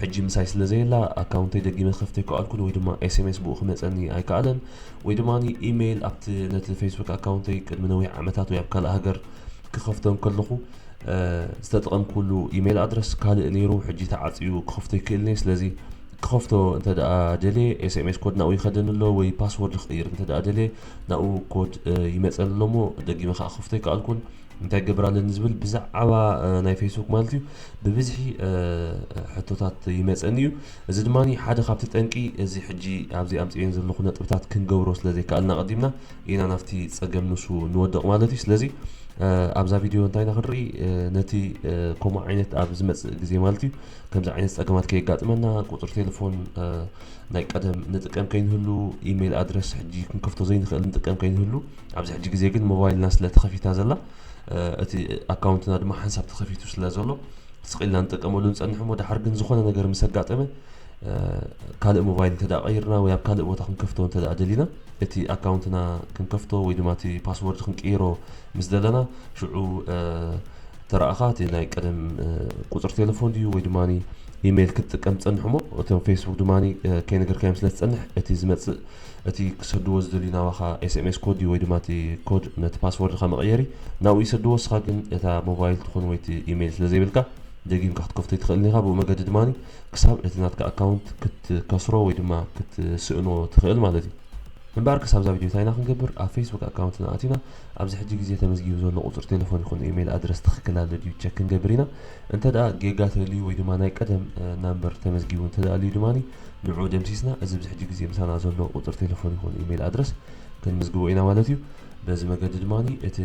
ሕጂ ምሳይ ስለ ዘየላ ኣካውንተይ ደጊመ ክኸፍት ኣይከኣልኩን ወይ ድማ ኤስኤምኤስ ብኡ ክመጸኒ ኣይከኣለን ወይ ድማ ኢሜይል ኣብቲ ነቲ ፌስቡክ ኣካውንተይ ቅድሚ ነዊሕ ዓመታት ወይ ኣብ ካልእ ሃገር ክኸፍቶ እንከለኹ ዝተጠቐምኩሉ ኢሜይል ኣድረስ ካልእ ነይሩ ሕጂ ተዓጽዩ ክኸፍቶ ይክእልኒ ስለዚ ክኸፍቶ እንተ ደኣ ደልየ ኤስኤምኤስ ኮድ ናብኡ ይኸደኒ ኣሎ ወይ ፓስወርድ ክቕይር እንተ ደኣ ደልየ ናብኡ ኮድ ይመጸኒ ኣሎ እሞ ደጊመ ከኣ ክኸፍቶ ኣይከኣልኩን እንታይ ክገብር ኣለኒ ዝብል ብዛዕባ ናይ ፌስቡክ ማለት እዩ ብብዝሒ ሕቶታት ይመፀኒ እዩ እዚ ድማ ሓደ ካብቲ ጠንቂ እዚ ሕጂ ኣብዚ ኣምፅኤን ዘለኹ ነጥብታት ክንገብሮ ስለ ዘይከኣልና ቀዲምና ኢና ናብቲ ፀገም ንሱ ንወደቕ ማለት እዩ ስለዚ ኣብዛ ቪድዮ እንታይ ኢና ክንርኢ ነቲ ከምኡ ዓይነት ኣብ ዝመፅእ ግዜ ማለት እዩ ከምዚ ዓይነት ፀገማት ከየጋጥመና ቁፅሪ ቴሌፎን ናይ ቀደም ንጥቀም ከይንህሉ ኢሜይል ኣድረስ ሕጂ ክንከፍቶ ዘይንኽእል ንጥቀም ከይንህሉ ኣብዚ ሕጂ ግዜ ግን ሞባይልና ስለ ተኸፊታ ዘላ እቲ ኣካውንትና ድማ ሓንሳብ ተኸፊቱ ስለ ዘሎ ስቕ ኢልና ንጥቀመሉ ንጸንሕ እሞ ደሓር ግን ዝኾነ ነገር ምስ ኣጋጠመ ካልእ ሞባይል እንተ ቀይርና ወይ ኣብ ካልእ ቦታ ክንከፍቶ እንተ ደሊና እቲ ኣካውንትና ክንከፍቶ ወይ ድማ እቲ ፓስወርድ ክንቅይሮ ምስ ዘለና ሽዑ ተረኣኻ እቲ ናይ ቀደም ቁፅሪ ቴሌፎን ድዩ ወይ ድማ ኢሜይል ክትጥቀም ትጸንሕ እሞ እቶም ፌስቡክ ድማ ከይነገርካዮም ስለ ትጸንሕ እቲ ዝመጽእ እቲ ክሰድዎ ዝደልዩ ናባኻ ኤስኤምኤስ ኮድ እዩ ወይ ድማ እቲ ኮድ ነቲ ፓስዎርድኻ መቐየሪ ናብኡ ይሰድዎ ንስኻ ግን እታ ሞባይል ትኹን ወይ እቲ ኢሜይል ስለዘይብልካ ደጊምካ ክትከፍቶ ኣይትኽእልን ኢኻ ብኡ መገዲ ድማ ክሳብ እቲ ናትካ ኣካውንት ክትከስሮ ወይ ድማ ክትስእኖ ትኽእል ማለት እዩ እምበኣር ክሳብ እዛ ቪድዮ እንታይ ኢና ክንገብር ኣብ ፌስቡክ ኣካውንትና ኣቲና ኣብዚ ሕጂ ግዜ ተመዝጊቡ ዘሎ ቁጽሪ ቴለፎን ይኹን ኢሜይል ኣድረስ ትኽክል ኣሎ ድዩ ቸክ ክንገብር ኢና እንተድኣ ጌጋ ተልዩ ወይ ድማ ናይ ቀደም ናምበር ተመዝጊቡ እንተድኣ ኣልዩ ድማ ንዑ ደምሲስና እዚ ኣብዚ ሕጂ ግዜ ምሳና ዘሎ ቁጽሪ ቴለፎን ይኹን ኢመይል ኣድረስ ክንምዝግቦ ኢና ማለት እዩ። በዚ መገዲ ድማ እቲ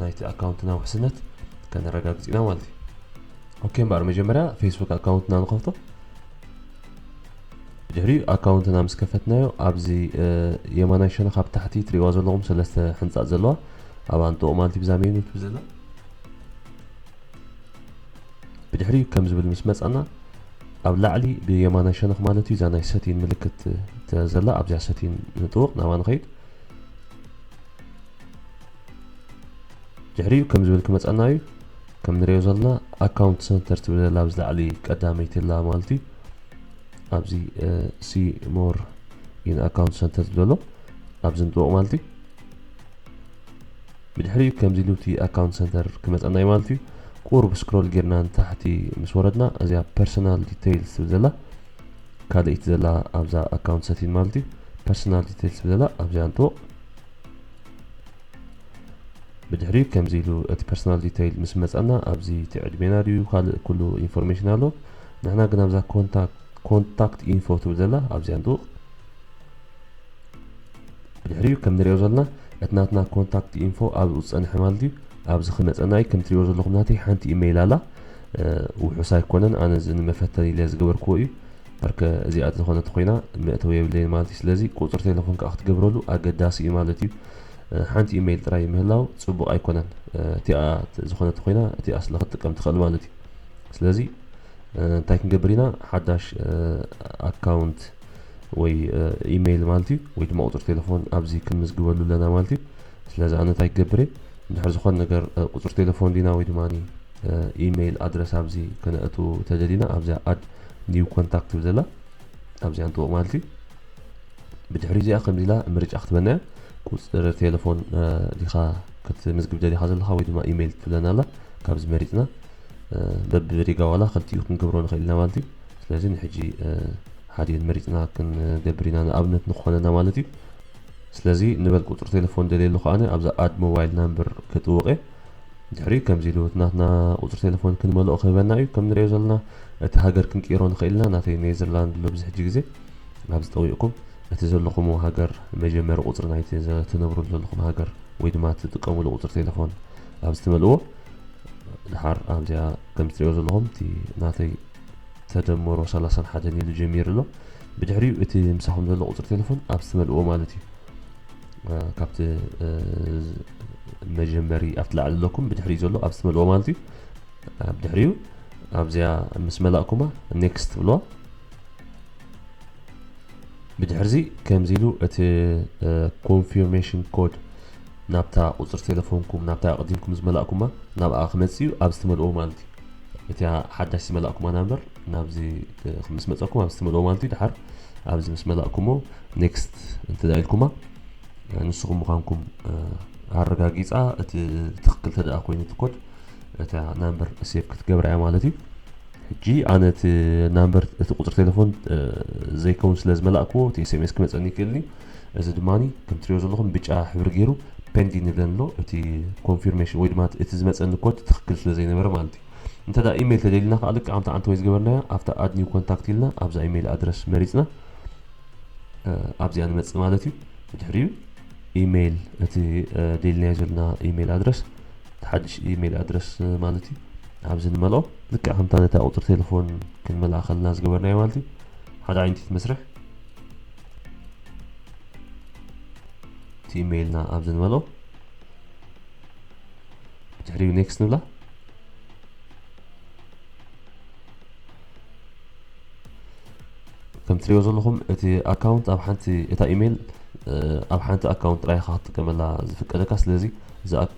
ናይቲ ኣካውንትና ውሕስነት ከነረጋግጽ ኢና ማለት እዩ። ኦኬ እምበኣር መጀመርያ ፌስቡክ ኣካውንትና ንኸፍቶ። ድሕሪኡ ኣካውንትና ምስ ከፈትናዮ ኣብዚ የማናይ ሸነኽ ኣብ ታሕቲ ትሪእዋ ዘለኹም ሰለስተ ሕንጻጽ ዘለዋ ኣብ ኣንጥቑ ማለት እዩ ብዛ ሜኑ ትብል ዘላ ብድሕሪኡ ከም ዝብል ምስ መጻና ኣብ ላዕሊ ብየማናይ ሸነኽ ማለት እዩ እዛ ናይ ሰቲን ምልክት ዘላ ኣብዚኣ ሰቲን ንጥውቕ ናብኣ ንኸይድ ድሕሪኡ ከም ዝብል ክመጻና እዩ ከም ንሪኦ ዘለና ኣካውንት ሰንተር ትብል ዘላ ኣብዚ ላዕሊ ቀዳመይቲ ኣላ ማለት እዩ ኣብዚ ሲ ሞር ኢን ኣካውንት ሰንተር ዘሎ ኣብዚ ንጥውቕ ማለት እዩ ብድሕሪኡ ከምዚ ኢሉ እቲ ኣካውንት ሰንተር ክመጸና እዩ ማለት እዩ ቁሩብ ስክሮል ጌርና ንታሕቲ ምስ ወረድና እዚኣ ፐርሰናል ዲቴይልስ ትብል ዘላ ካልእይቲ ዘላ ኣብዛ ኣካውንት ሰቲን ማለት እዩ ፐርሰናል ዲቴይልስ ትብል ዘላ ኣብዚኣ ንጥወቕ ብድሕሪኡ ከምዚ ኢሉ እቲ ፐርሰናል ዲተይል ምስ መፀና ኣብዚ እቲ ዕድሜና ድዩ ካልእ ኩሉ ኢንፎርሜሽን ኣሎ ንሕና ግን ኣብዛ ኮንታክት ኢንፎ ትብል ዘላ ኣብዚኣ ንጥውቕ ድሕሪኡ ከም ንሪኦ ዘሎና እቲ ናትና ኮንታክት ኢንፎ ኣብኡ ዝጸንሐ ማለት እዩ ኣብዚ ክመጸናይ ከም ትሪእዎ ዘለኹም ናተይ ሓንቲ ኢመይል ኣላ ውሑስ ኣይኮነን ኣነ እዚ ንመፈተኒ ኢለ ዝገበርክዎ እዩ ርከ እዚኣ ዝኾነት ኮይና መእተው የብለይን ማለት እዩ ስለዚ ቁፅሪ ቴሌፎን ከዓ ክትገብረሉ ኣገዳሲ እዩ ማለት እዩ ሓንቲ ኢመይል ጥራይ ምህላው ፅቡቅ ኣይኮነን እቲኣ ዝኾነት ኮይና እቲኣ ስለ ክትጥቀም ትኽእል ማለት እዩ ስለዚ እንታይ ክንገብር ኢና ሓዳሽ ኣካውንት ወይ ኢመይል ማለት እዩ ወይ ድማ ቁፅሪ ቴለፎን ኣብዚ ክንምዝግበሉ ኣለና ማለት እዩ ስለዚ ኣነ እንታይ ክገብር እየ እንድሕር ዝኾነ ነገር ቁፅሪ ቴለፎን ዲና ወይ ድማ ኢመይል ኣድረስ ኣብዚ ከነእቱ ተደሊና ኣብዚኣ ኣድ ኒው ኮንታክት ትብል ዘላ ኣብዚኣ ንጥወቅ ማለት እዩ ብድሕሪ እዚኣ ከምዚ ኢላ ምርጫ ክትበና እያ ቁፅሪ ቴለፎን ዲኻ ክትምዝግብ ደሊኻ ዘለኻ ወይ ድማ ኢመይል ትብለና ኣላ ካብዚ መሪፅና በብሪጋ ዋላ ክልቲኡ ክንገብሮ ንኽእል ኢና ማለት እዩ ስለዚ ንሕጂ ሓዲኤን መሪጽና ክንገብር ኢና ንኣብነት ንክኾነና ማለት እዩ ስለዚ ንበል ቁጽሪ ቴለፎን ደልየሉ ከኣ ኣብዛ ኣድ ሞባይል ናምበር ክጥውቅ እየ ድሕሪኡ ከምዚ ኢሉ እቲ ናትና ቁጽሪ ቴለፎን ክንመልኦ ክህበና እዩ ከም ንሪኦ ዘለና እቲ ሃገር ክንቅይሮ ንኽእል ኢና ናተይ ኔዘርላንድ ኣሎ ብዚ ሕጂ ግዜ ኣብዚ ጠዊቅኩም እቲ ዘለኹምዎ ሃገር መጀመሪ ቁጽሪ ናይቲ ትነብርሉ ዘለኹም ሃገር ወይ ድማ እትጥቀምሉ ቁጽሪ ቴለፎን ኣብዚ ትመልእዎ ድሓር ኣብዚኣ ከም እትሪእዎ ዘለኹም እቲ ናተይ ተደመሮ ሰላሳን ሓደን ኢሉ ጀሚሩ ኣሎ ብድሕሪኡ እቲ ምሳኹም ዘሎ ቁፅሪ ቴለፎን ኣብ ዝትመልእዎ ማለት እዩ ካብቲ መጀመሪ ኣብቲ ላዕሊ ኣለኩም ብድሕሪኡ ዘሎ ኣብ ዝትመልእዎ ማለት እዩ ብድሕሪኡ ኣብዚኣ ምስ መላእኩማ ኔክስት ብልዋ ብድሕርዚ ከምዚ ኢሉ እቲ ኮንፊርሜሽን ኮድ ናብታ ቁፅሪ ቴለፎንኩም ናብታ ኣቕዲምኩም ዝመላእኩማ ናብኣ ክመፅእ እዩ ኣብ ዝትመልእዎ ማለት እዩ እቲያ ሓዳሽ ዝመላእኩማ ናምበር ናብዚ ምስ መጸኩም ኣብዚ ትመልኦ ማለት እዩ ድሓር ኣብዚ ምስ መላእኩሞ ኔክስት እንተዳ ኢልኩማ ንስኹም ምዃንኩም ኣረጋጊጻ እቲ ትክክል ተደኣ ኮይኑ ትኮድ እታ ናምበር ሴቭ ክትገብራ እያ ማለት እዩ ሕጂ ኣነ እቲ ናምበር እቲ ቁፅሪ ቴሌፎን ዘይከውን ስለ ዝመላእክዎ እቲ ኤስኤምኤስ ክመፀኒ ይክእልኒ እዚ ድማ ከም ትሪኦ ዘለኹም ብጫ ሕብሪ ገይሩ ፔንዲንግ ይብለን ኣሎ እቲ ኮንፊርሜሽን ወይ ድማ እቲ ዝመፀኒ ኮድ ትክክል ስለ ዘይነበረ ማለት እዩ እንተ ደኣ ኢሜይል ተደሊና ከዓ ልክዕ ከምቲ ዓንተወይ ዝገበርናዮ ኣብታ ኣድ ኒው ኮንታክት ኢልና ኣብዛ ኢሜይል ኣድረስ መሪፅና ኣብዚኣ ንመፅእ ማለት እዩ ብድሕሪኡ ኢሜይል እቲ ደሊናዮ ዘለና ኢሜይል ኣድረስ ሓድሽ ኢሜይል ኣድረስ ማለት እዩ ኣብዚ ንመልኦ ልክዕ ከምታ ነታ ቁፅሪ ቴሌፎን ክንመልኣ ከለና ዝገበርናዮ ማለት እዩ ሓደ ዓይነት መስርሕ እቲ ኢሜይልና ኣብዚ ንበሎ ድሕሪኡ ኔክስት ንብላ ከም ትሪኦ ዘለኹም እቲ ኣካውንት ኣብ ሓንቲ እታ ኢሜይል ኣብ ሓንቲ ኣካውንት ጥራይ ኢኻ ክትጥቀመላ ዝፍቀደካ ስለዚ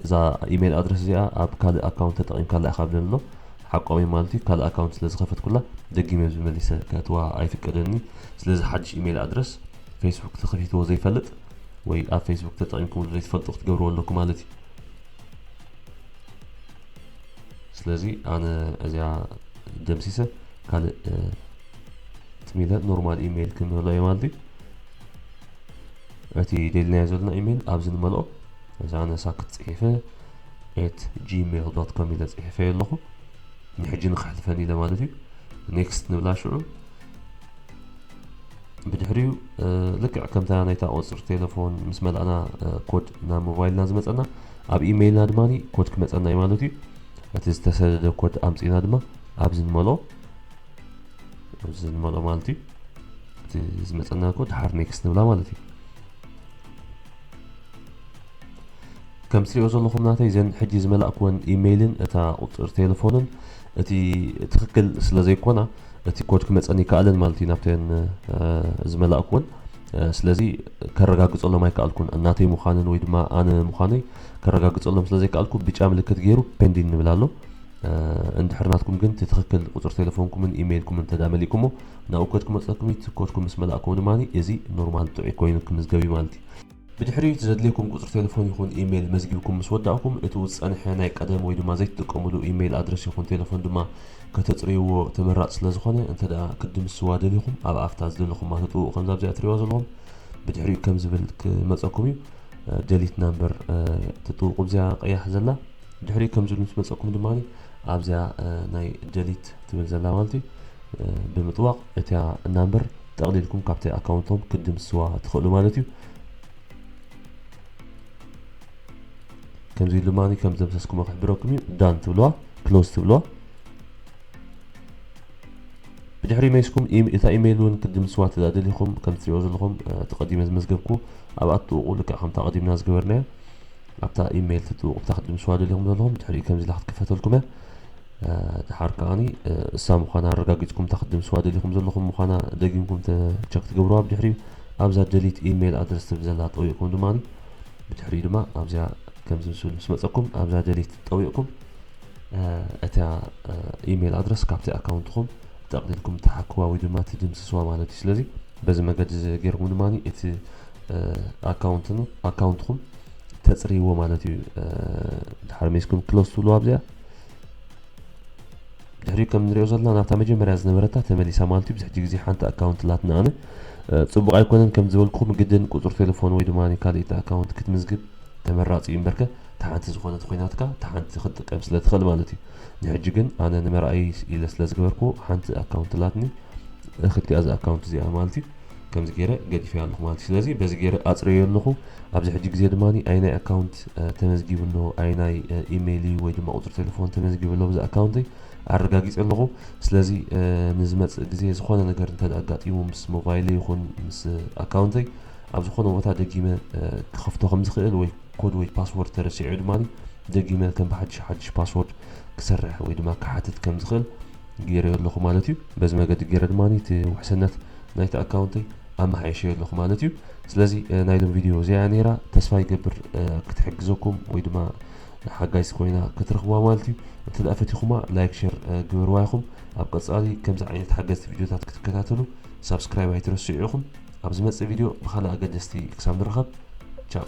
እዛ ኢሜይል ኣድረስ እዚኣ ኣብ ካልእ ኣካውንት ተጠቒምካላ ኢኻ ብለኒ ኣሎ ሓቆም እዮም ማለት እዩ ካልእ ኣካውንት ስለ ዝኸፈትኩላ ደጊመ ኣብዚ መሊሰ ከእትዋ ኣይፍቀደንንዩ ስለዚ ሓድሽ ኢመይል ኣድረስ ፈይስቡክ ተኸፊትዎ ዘይፈልጥ ወይ ኣብ ፈይስቡክ ተጠቒምኩምሉ ዘይትፈልጡ ክትገብርዎ ኣለኩም ማለት እዩ ስለዚ ኣነ እዚኣ ደምሲሰ ካልእ ትሚለ ኖርማል ኢመይል ክንመልኦ እዩ ማለት እዩ እቲ ደልናዮ ዘለና ኢሜይል ኣብዚ ንመልኦ እዚ ኣነ ሳክት ፅሒፈ at gmail dot com ኢለ ጽሒፈዮ ኣለኹ ንሕጂ ንክሕልፈኒ ኢለ ማለት እዩ ኔክስት ንብላ ሽዑ ብድሕሪኡ ልክዕ ከምታ ናይታ ቁፅሪ ቴሌፎን ምስ መላእና ኮድ ናብ ሞባይልና ዝመፀና ኣብ ኢመይልና ድማ ኮድ ክመፀና እዩ ማለት እዩ እቲ ዝተሰደደ ኮድ ኣምፅና ድማ ኣብዚ ንመልኦ እዚ ንመልኦ ማለት እዩ እቲ ዝመፀና ኮድ ሓር ኔክስት ንብላ ማለት እዩ ከም ትሪኦ ዘለኹም ናተይ ዘን ሕጂ ዝመላእክወን ኢሜይልን እታ ቁፅር ቴሌፎንን እቲ ትክክል ስለ ዘይኮና እቲ ኮድ ክመፀን ይከኣልን ማለት እዩ ናብተን ዝመላእክወን ስለዚ ከረጋግፀሎም ኣይከኣልኩን እናተይ ምዃንን ወይ ድማ ኣነ ምዃነይ ከረጋግፀሎም ስለ ዘይከኣልኩ ብጫ ምልክት ገይሩ ፔንዲን ንብል ኣሎ እንድሕር ናትኩም ግን እቲ ትክክል ቁፅር ቴሌፎንኩምን ኢሜይልኩምን ተዳ መሊእኩሞ ናብኡ ኮድ ክመፀኩም እዩ ኮድኩም ምስ መላእኩም ድማ እዚ ኖርማል ጥዑይ ኮይኑ ክምዝገብ እዩ ማለት እዩ ብድሕሪኡ እቲ ዘድልየኩም ቁጽሪ ቴለፎን ይኹን ኢመይል መዝጊብኩም ምስ ወዳእኩም፣ እቲ ውዝጸንሐ ናይ ቀደም ወይ ድማ ዘይትጥቀምሉ ኢመይል ኣድረስ ይኹን ቴለፎን ድማ ከተጽርይዎ ተመራጺ ስለ ዝኾነ፣ እንተድኣ ክትድምስስዋ ደሊኹም ኣብ ኣፍታ ዝደለኹማ ትጥውኡ ከምዛ ኣብዚኣ ትርእይዋ ዘለኹም ብድሕሪኡ ከም ዝብል ክመጸኩም እዩ። ደሊት ናምበር ትጥውቁ ኣብዚኣ ቀያሕ ዘላ። ድሕሪኡ ከም ዝብል ምስ መጸኩም ድማ ኣብዚኣ ናይ ደሊት ትብል ዘላ ማለት እዩ ብምጥዋቕ እቲኣ ናምበር ጠቕሊልኩም ካብቲ ኣካውንቶም ክትድምስስዋ ትኽእሉ ማለት እዩ። ከምዚ ድማ ከም ዘምሰስኩሞ ክሕብረኩም እዩ ዳን ትብልዋ ክሎዝ ትብልዋ ብድሕሪ መይስኩም እታ ኢሜይል እውን ክትድምስዋ ተዳደሊኹም ከም ትሪኦ ዘለኹም ተቐዲመ ዝመዝገብኩ ኣብኣ ትጥውቑ ልክዕ ከምታ ቀዲምና ዝገበርናዮ ኣብታ ኢሜይል ትጥውቑ ብታ ክትድምስዋ ደሊኹም ዘለኹም ድሕሪኡ ከምዚ ኢላ ክትክፈተልኩም እያ ደሓር ከኣኒ እሳ ምዃና ኣረጋጊጽኩም እታ ክትድምስዋ ደሊኹም ዘለኹም ምዃና ደጊምኩም ቸክ ትገብርዋ ብድሕሪኡ ኣብዛ ደሊት ኢመይል ኣድረስ ትብል ዘላ ጠዊቕኩም ድማ ብድሕሪኡ ድማ ኣብዚኣ ከምዚ ምስብል ምስ መጸኩም ኣብዛ ደሊት ጠዊቕኩም እታ ኢመይል ኣድረስ ካብቲ ኣካውንትኹም ጠቕሊልኩም ትሓክዋ ወይ ድማ ትድምስስዋ ማለት እዩ ስለዚ በዚ መገዲ እዚ ገይርኩም ድማ እቲ ኣካውንትኹም ተፅርይዎ ማለት እዩ ድሓር ሜስኩም ክሎስ ትብልዋ ኣብዚኣ ድሕሪኡ ከም ንሪኦ ዘለና ናብታ መጀመርያ ዝነበረታ ተመሊሳ ማለት እዩ ብዙሕ ግዜ ሓንቲ ኣካውንት ላትና ኣነ ፅቡቕ ኣይኮነን ከም ዝበልኩኹም ግድን ቁፅሪ ቴሌፎን ወይ ድማ ካልኢት ኣካውንት ክትምዝግብ ተመራፂ እዩ እምበርከ እታ ሓንቲ ዝኾነት ኮይናትካ እታ ሓንቲ ክትጥቀም ስለ ትኽእል ማለት እዩ ንሕጂ ግን ኣነ ንመርኣይ ኢለ ስለ ዝገበርኩ ሓንቲ ኣካውንት ላትኒ እኽልቲኣ እዚ ኣካውንት እዚኣ ማለት እዩ ከምዚ ጌረ ገዲፈያ ኣለኹ ማለት እዩ ስለዚ በዚ ጌረ ኣጽረዮ ኣለኹ ኣብዚ ሕጂ ግዜ ድማ ኣይናይ ኣካውንት ተመዝጊቡ ኣሎ ኣይናይ ኢሜይል እዩ ወይ ድማ ቁጽሪ ቴሌፎን ተመዝጊቡ ኣሎ ብዚ ኣካውንተይ ኣረጋጊጸ ኣለኹ ስለዚ ንዝመጽእ ግዜ ዝኾነ ነገር እንተ ኣጋጢሙ ምስ ሞባይለ ይኹን ምስ ኣካውንተይ ኣብ ዝኾነ ቦታ ደጊመ ክኸፍቶ ከም ዝኽእል ወይ ኮድ ወይ ፓስወርድ ተረሲዑ ድማ ደጊመ ከም ብሓድሽ ሓድሽ ፓስወርድ ክሰርሕ ወይ ድማ ክሓትት ከም ዝኽእል ገይረዮ ኣለኹ ማለት እዩ በዚ መገዲ ገይረ ድማ እቲ ውሕስነት ናይቲ ኣካውንተይ ኣመሓይሸዮ ኣለኹ ማለት እዩ ስለዚ ናይ ሎም ቪድዮ እዚኣ ነይራ ተስፋ ይገብር ክትሕግዘኩም ወይ ድማ ሓጋይስ ኮይና ክትረኽብዋ ማለት እዩ እንተ ደኣ ፈቲኹማ ላይክ ሸር ግበርዋ ኢኹም ኣብ ቀጻሊ ከምዚ ዓይነት ሓገዝቲ ቪድዮታት ክትከታተሉ ሳብስክራይብ ኣይትረስዑ ኢኹም ኣብ ዝመጽእ ቪድዮ ብካልእ ኣገደስቲ ክሳብ ንራኸብ ቻው